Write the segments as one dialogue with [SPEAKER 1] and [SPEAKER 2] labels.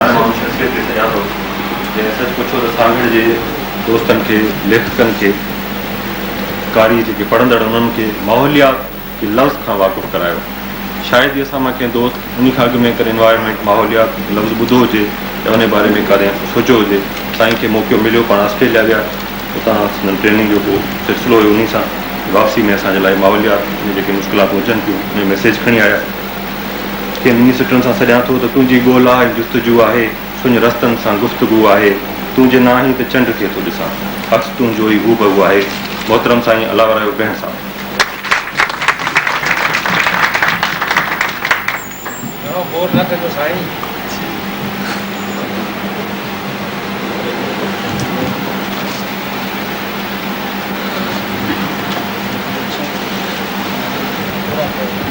[SPEAKER 1] هن ماڻهو شخصيت کي سڃاتو، جنهن سچ پڇو ته سانگهڙ جي دوستن کي، ليکڪن کي، قاري جيڪي پڙهندڙ انهن کي ماحوليات جي لفظ کان واقف ڪرايو. شايد ئي اسان مان ڪنهن دوست انهي کان اڳ ۾ ڪڏهن Environment، ماحوليات، لفظ ٻڌو هجي يا انهي باري ۾ ڪڏهن سوچيو هجي. سائين کي موقعو مليو، پاڻ آسٽريليا ويا، اتان سندن ٽريننگ جو ڪو سلسلو هيو، انهي سان واپسي ۾ اسان جي لاء ماحوليات ۾ جيڪي مشڪلاتون اچن ٿيون، انهي ميسيج کڻي آيا. کي نني سٽن سان سڏيان ٿو ته تنهنجي ڳولا ۽ جستجو آهي، سڃ رستن سان گفتگو آهي، تون جي ناهين ته چنڊ کي ٿو ڏسان، عڪس تنهنجو ئي هو بهو آهي، محترم سائين الاء رحيو بينهه صاحب. گهڻو گور نه ڪجو سائين.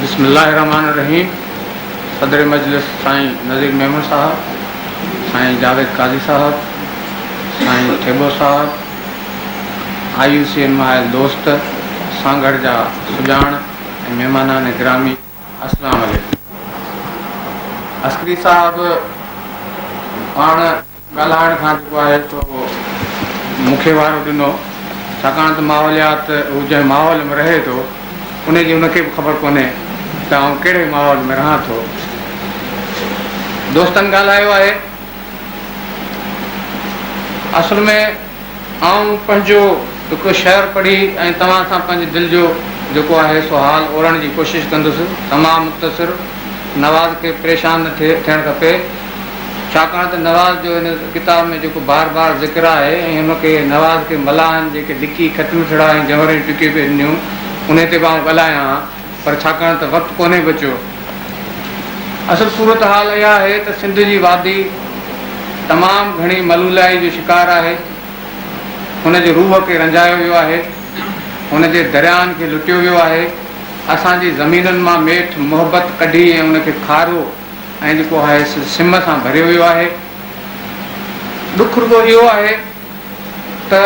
[SPEAKER 2] بسم الله الرحمن الرحيم صدر مجلس سائين نذير ميمڻ صاحب سائين جاويد قاضي صاحب سائين ٿيٻو صاحب آء يو سي اين مائل دوست سانگھڙ جا سڄاڻ ۽ مهمانان گرامي السلام عليڪم عسڪري صاحب پاڻ ڳالهائڻ کان جيڪو آهي سو مون کي وارو ڏنو ڇاڪاڻ ته ماحوليات هو جنهن ماحول ۾ رهي ٿو ان جي ان کي به خبر ڪونهي ته آئون ڪهڙي ماحول ۾ رهان ٿو. دوستن ڳالهايو آهي اصل ۾ آئون پنهنجو هڪ شعر پڙهي ۽ توهان سان پنهنجي دل جو جيڪو آهي سو حال اورڻ جي ڪوشش ڪندس. تمام مختصر. نواز کي پريشان نه ٿيڻ کپي. ڇاڪاڻ ته نواز جو هن ڪتاب ۾ جيڪو بار بار ذڪر آهي ۽ ان کي نواز کي ملاحن جيڪي لڪي خط مٺڙا ۽ جهونريون ٽڪيون پئي ڏنيون انهي تي به آئون ڳالهايان ها. پر ڇاڪاڻ ته وقت ڪونهي بچيو. اصل صورتحال اها آهي ته سنڌ جي وادي تمام گهڻي ملولائي جو شڪار آهي. هن جي روح کي رنجايو ويو آهي. هن جي درياهن کي لٽيو ويو آهي. اسان جي زمينن مان ميٺ محبت ڪڍي ۽ ان کي کارو ۽ جيڪو آهي سو سم سان ڀريو ويو آهي. ڏک رڳو اهو آهي ته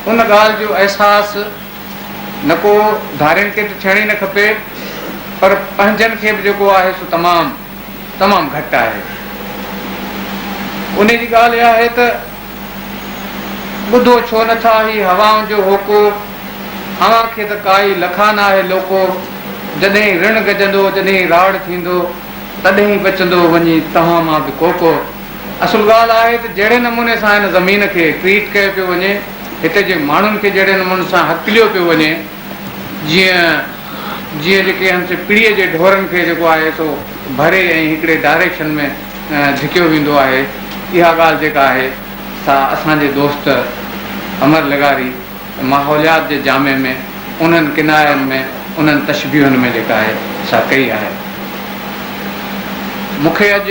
[SPEAKER 2] ان ڳالهه جو احساس نڪو ڌارين کي ته ٿيڻ ئي نه کپي پر پنهنجن کي به جيڪو آهي سو تمام تمام گهٽ آهي. انهي جي ڳالهه اها آهي ته ٻڌو ڇو نه ٿا هي هوائن جو هوڪو، اوهان کي ته ڪائي لکا نه آهي لوڪو، جڏهين رڻ گجندو، جڏهين راڙ ٿيندو، تڏهين بچندو وڃي توهان مان به ڪوڪو. اصل ڳالهه آهي ته جهڙي نموني سان هن زمين کي ٽريٽ ڪيو پيو وڃي، هتي جي ماڻهن کي جهڙي نموني سان هڪليو پيو وڃي، جيئن جيئن جيڪي همٿين پڙيء جي ڍورن کي جيڪو آهي سو ڀري ۽ هڪڙي ڊائريڪشن ۾ ڌڪيو ويندو آهي، اها ڳالهه جيڪا آهي سا اسان جي دوست امر لغاري ماحوليات جي جامع ۾ انهن ڪناين ۾ انهن تشبيهن ۾ جيڪا آهي سا ڪئي آهي. مون کي اڄ.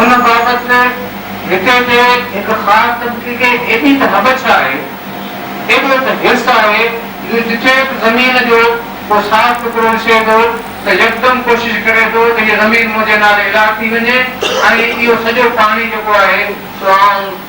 [SPEAKER 2] ان بابت هتي جي هڪ خاص طبقي کي ايڏي ته هٻڇ آهي، ايڏو ته حرص آهي جو جتي به زمين جو ڪو صاف ٽڪرو ڏسي ٿو ته يڪدم ڪوشش ڪري ٿو ته هيء زمين منهنجي نالي اعلان ٿي وڃي ۽ اهو سڄو پاڻي جيڪو آهي سو آئون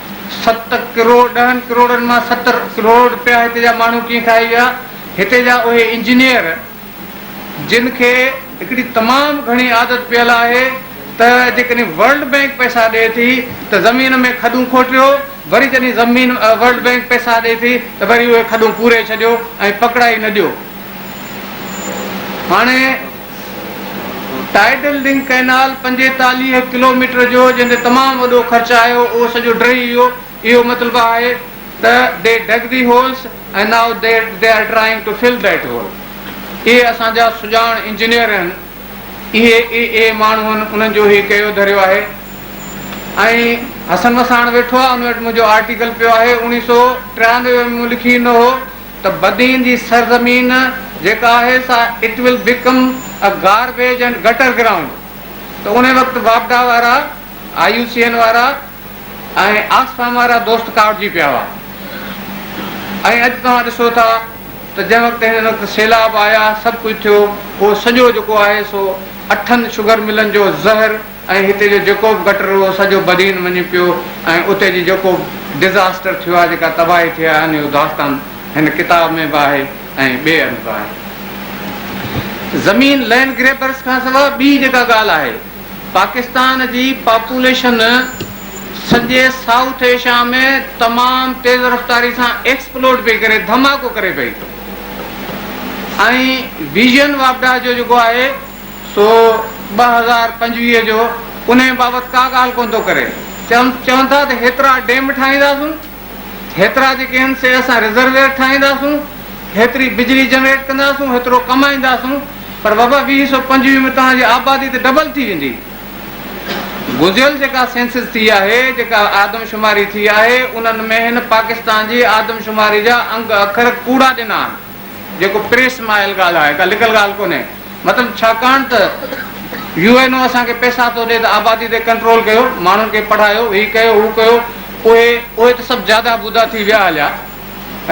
[SPEAKER 2] ست ڪروڙ، ڏهن ڪروڙن مان ست ڪروڙ رپيا هتي جا ماڻهو ڪيئن کائي ويا، هتي جا اهي انجنيئر جن کي هڪڙي تمام گهڻي عادت پيل آهي ته جيڪڏهن ورلڊ بئنڪ پئسا ڏئي ٿي ته زمين ۾ کڏون کوٽيو، وري جڏهن زمين ورلڊ بئنڪ پئسا ڏئي ٿي ته وري اهي کڏون پوري ڇڏيو ۽ پڪڙائي نه ڏيو. هاڻي. ٽائيڊل رنگ ڪئنال پنجيتاليهه ڪلوميٽر جو جنهن تي تمام وڏو خرچ آيو اهو سڄو ڊهي ويو اهو مطلب آهي ته They dug the holes and now they are trying to fill that hole اهي اسان جا سڄاڻ انجنيئر آهن اهي اي اي ماڻهو آهن انهن جو هي ڪيو ڌريو آهي ۽ حسن وساڻ ويٺو آهي ان وٽ منهنجو آرٽيڪل پيو آهي اوڻيهه سو ٽيانوي ۾ مون لکي ڏنو هو ته بدين جي سرزمين جيڪا آهي سا It will become a garbage and gutter ground ته انهي وقت واپڊا وارا، آء يو سي اين وارا ۽ آڪسفام وارا دوست ڪاوڙجي پيا هئا ۽ اڄ توهان ڏسو ٿا ته جنهن وقت هن وقت سيلاب آيا سڀ ڪجهه ٿيو اهو سڄو جيڪو آهي سو اٺن شگر ملن جو زهر ۽ هتي جو جيڪو به گٽر هو سڄو بدين وڃي پيو ۽ اتي جي جيڪو به ڊزاسٽر ٿيو آهي جيڪا تباهي ٿي آهي انهي جو داستان هن ڪتاب ۾ به آهي ۽ ٻئي هنڌ به آهي. زمين لئنڊ گريبرس کان سوا ٻي جيڪا ڳالهه آهي پاڪستان جي پاپوليشن سڄي سائوٿ ايشيا ۾ تمام تيز رفتاري سان ايڪسپلوڊ پئي ڪري ڌماڪو ڪري پئي ۽ ويزن واپڊا جو جيڪو آهي سو ٻه هزار پنجويهه جو انهيء بابت ڪا ڳالهه ڪونه ٿو ڪري. چون ٿا ته هيترا ڊيم ٺاهينداسون، هيترا جيڪي آهن سي اسان رزرويئر ٺاهينداسون، هيتري بجلي جنريٽ ڪنداسون، هيترو ڪمائينداسون، پر بابا ويهه سو پنجويهه ۾ توهان جي آبادي ته ڊبل ٿي ويندي. گذريل جيڪا سينسز ٿي آهي، جيڪا آدمشماري ٿي آهي، انهن ۾ هن پاڪستان جي آدمشماري جا انگ اکر ڪوڙا ڏنا آهن. جيڪو پريس ماحل ڳالهه آهي، ڪا لڪل ڳالهه ڪونهي. مطلب ڇاڪاڻ ته يو اين او اسان کي پئسا ٿو ڏي ته آبادي تي ڪنٽرول ڪيو، ماڻهن کي پڙهايو، هي ڪيو، هو ڪيو، اهي اهي ته سڀ جادا بودا ٿي ويا هليا،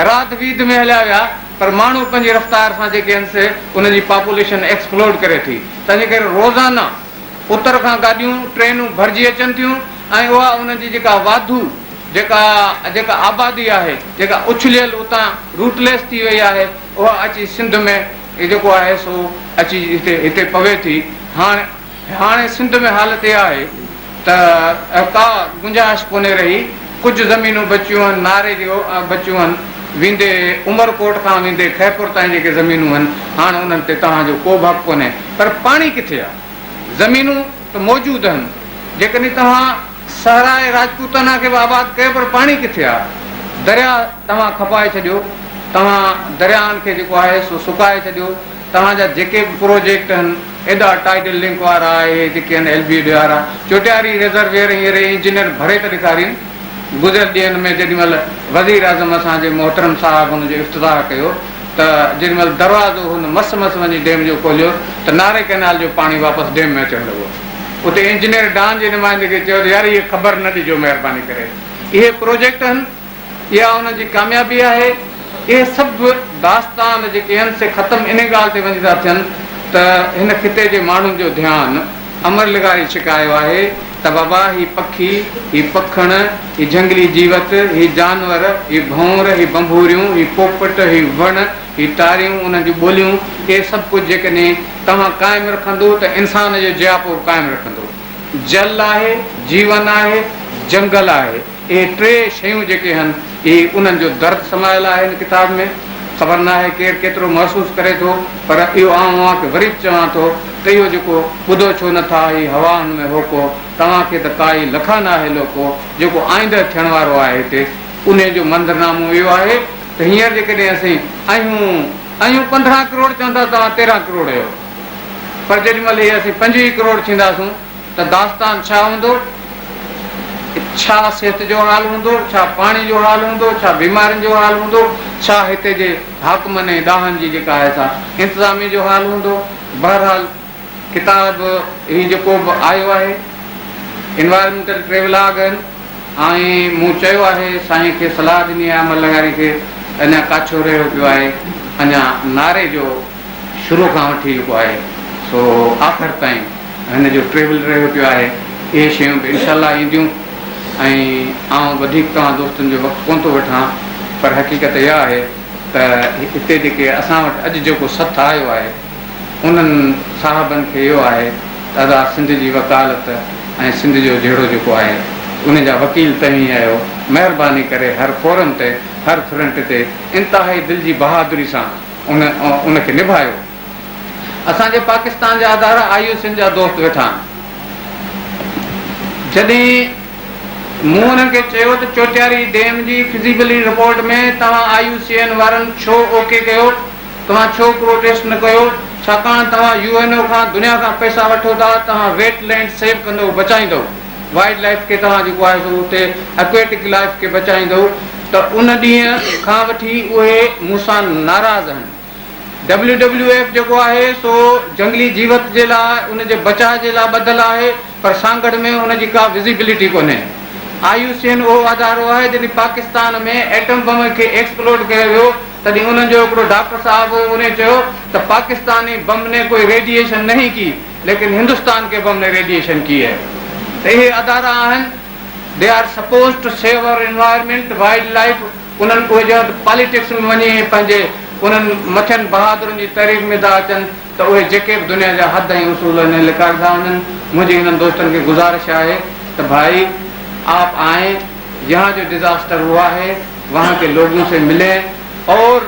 [SPEAKER 2] راڌ ويڌ ۾ هليا ويا، پر ماڻهو پنهنجي رفتار سان جيڪي آهن سي انهن جي پاپوليشن ايڪسپلوڊ ڪري ٿي، تنهنجي ڪري روزانه. اتر کان گاڏيون، ٽرينون ڀرجي اچن ٿيون ۽ اها ان جي جيڪا واڌو جيڪا جيڪا آبادي آهي، جيڪا اڇليل اتان روٽليس ٿي وئي آهي، اها اچي سنڌ ۾ جيڪو آهي سو اچي هتي هتي پوي ٿي. هاڻ هاڻي سنڌ ۾ حالت اها آهي ته ڪا گنجائش ڪونهي رهي. ڪجهه زمينون بچيون هن ناري جي بچيون هن ويندي عمر ڪوٽ کان ويندي خيرپور تائين جيڪي زمينون هن هاڻ انهن تي توهان جو ڪو به حق ڪونهي پر پاڻي ڪٿي آ زمينون ته موجود هن جيڪڏهن توهان صحراء راجپوتانا کي به آباد ڪيو پر پاڻي ڪٿي آ دريا توهان کپائي ڇڏيو توهان درياهن کي جيڪو آهي سو سڪائي ڇڏيو توهان جا جيڪي به پروجيڪٽ هن ايڏا ٽائيڊل لنڪ وارا آهي جيڪي هن ايل بي ڊي آر آهي چوٽياري ريزرويئر ۽ ري انجنيئر ڀري ته ڏيکارين گذريل ڏينهن ۾ جيڏي مهل وزير اعظم اسان جي محترم صاحب هن جو افتتاح ڪيو ته جيڏي مهل دروازو هن مس مس وڃي ڊيم جو کوليو ته ناري ڪئنال جو پاڻي واپس ڊيم ۾ اچڻ لڳو اتي انجنيئر ڊان جي نمائندگي چيو ته يار اهي خبر نه ڏجو مهرباني ڪري اهي پروجيڪٽ هن اها ان جي ڪاميابي آهي. اهي سڀ داستان جيڪي هن سي ختم انهي ڳالهه تي وڃي ٿا ٿين ته هن خطي جي ماڻهن جو ڌيان امر لغاري ڇڪايو آهي ته بابا هي پکي، هي پکڻ، هي جهنگلي جيوت، هي جانور، هي ڀؤنر، هي ڀنڀوريون، هي پوپٽ، هي وڻ، هي ٽاريون، انهن جون ٻوليون، اهي سڀ ڪجهه جيڪڏهن توهان قائم رکندو ته انسان جو جياپو به قائم رکندو. جل آهي، جيون آهي، جنگل آهي. اهي ٽي شيون جيڪي هن اهي انهن جو درد سمايل آهي هن ڪتاب ۾ خبر ناهي ڪير ڪيترو محسوس ڪري ٿو پر اهو آئون اوهان کي وري به چوان ٿو ته اهو جيڪو ٻڌو ڇو نه ٿا هي هوا هن ۾ هوڪو توهان کي ته ڪائي لکا ناهي لوڪو جيڪو آئنده ٿيڻ وارو آهي هتي انهي جو منظر نامو اهو آهي ته هينئر جيڪڏهن اسين اهيون اهيون پندرهن ڪروڙ چون ٿا توهان تيرهن ڪروڙ اهيو پر جيڏي مهل هي اسين پنجويهه ڪروڙ ٿينداسون ته داستان ڇا هوندو؟ ڇا صحت جو حال هوندو؟ ڇا پاڻي جو حال هوندو؟ ڇا بيمارين جو حال هوندو؟ ڇا هتي جي حاڪمن ۽ ڏاهن جي جيڪا آهي سا انتظاميه جو حال هوندو؟ بهرحال ڪتاب هي جيڪو به آيو آهي انوائرمينٽل ٽريولاگ آهن ۽ مون چيو آهي سائين کي صلاح ڏني آهي عمل لغاري کي اڃا ڪاڇو رهيو پيو آهي اڃا نعري جو شروع کان وٺي جيڪو آهي سو آخر تائين هن جو ٽريول رهيو پيو آهي اهي شيون به انشاء الله اينديون ۽ آئون وڌيڪ توهان دوستن جو وقت ڪونه ٿو وٺان پر حقيقت اها آهي ته هتي جيڪي اسان وٽ اڄ جيڪو سٿ آيو آهي انهن صاحبن کي اهو آهي ته ادا سنڌ جي وڪالت ۽ سنڌ جو جهيڙو جيڪو آهي ان جا وڪيل توهين آهيو مهرباني ڪري هر فورم تي هر فرنٽ تي انتهائي دل جي بهادري سان ان ان کي نڀايو. اسان جي پاڪستان جا ادارا آء يو سين جا دوست ويٺا آهن. جڏهن مون انهن کي چيو ته چوٽياري ڊيم جي فزيبلٽي رپورٽ ۾ توهان آء يو سي اين وارن ڇو اوڪي ڪيو؟ توهان ڇو پروٽيسٽ نه ڪيو؟ ڇاڪاڻ توهان يو اين او کان دنيا کان پئسا وٺو ٿا، توهان ويٽ لينڊ سيو ڪندئو، بچائيندئو. وائلڊ لائيف کي توهان جيڪو آهي سو اتي اڪويٽڪ لائيف کي بچائيندو ته ان ڏينهن کان وٺي اهي مون سان ناراض آهن. ڊبليو ڊبليو ايف جيڪو آهي سو جهنگلي جيوت جي لاء ان جي بچاء جي لاء ٻڌل آهي پر سانگهڙ ۾ ان جي ڪا وزيبلٽي ڪونهي. آء يو سي اين اهو ادارو آهي جڏهن پاڪستان ۾ ايٽم بم کي ايڪسپلوڊ ڪيو ويو تڏهن انهن جو هڪڙو ڊاڪٽر صاحب هو انهي چيو ته پاڪستان ني بم ني ڪوئي ريڊيئيشن نهين ڪي. ليڪن هندستان ڪي بم ني ريڊيئيشن ڪي هي ته اهي ادارا آهن they are suppose to save our environment wildlife انهن اهي جا پاليٽڪس ۾ وڃي ۽ پنهنجي انهن مٿين بهادرن جي تعريف ۾ ٿا اچن ته اهي جيڪي به دنيا جا حد ۽ اصول آهن اهي لڪائي ٿا وڃن منهنجي انهن دوستن کي گذارش آهي ته ڀائي آپ آئين يهان جو ڊزاسٽر هوا هي وهان ڪي لوگون سي ملين اور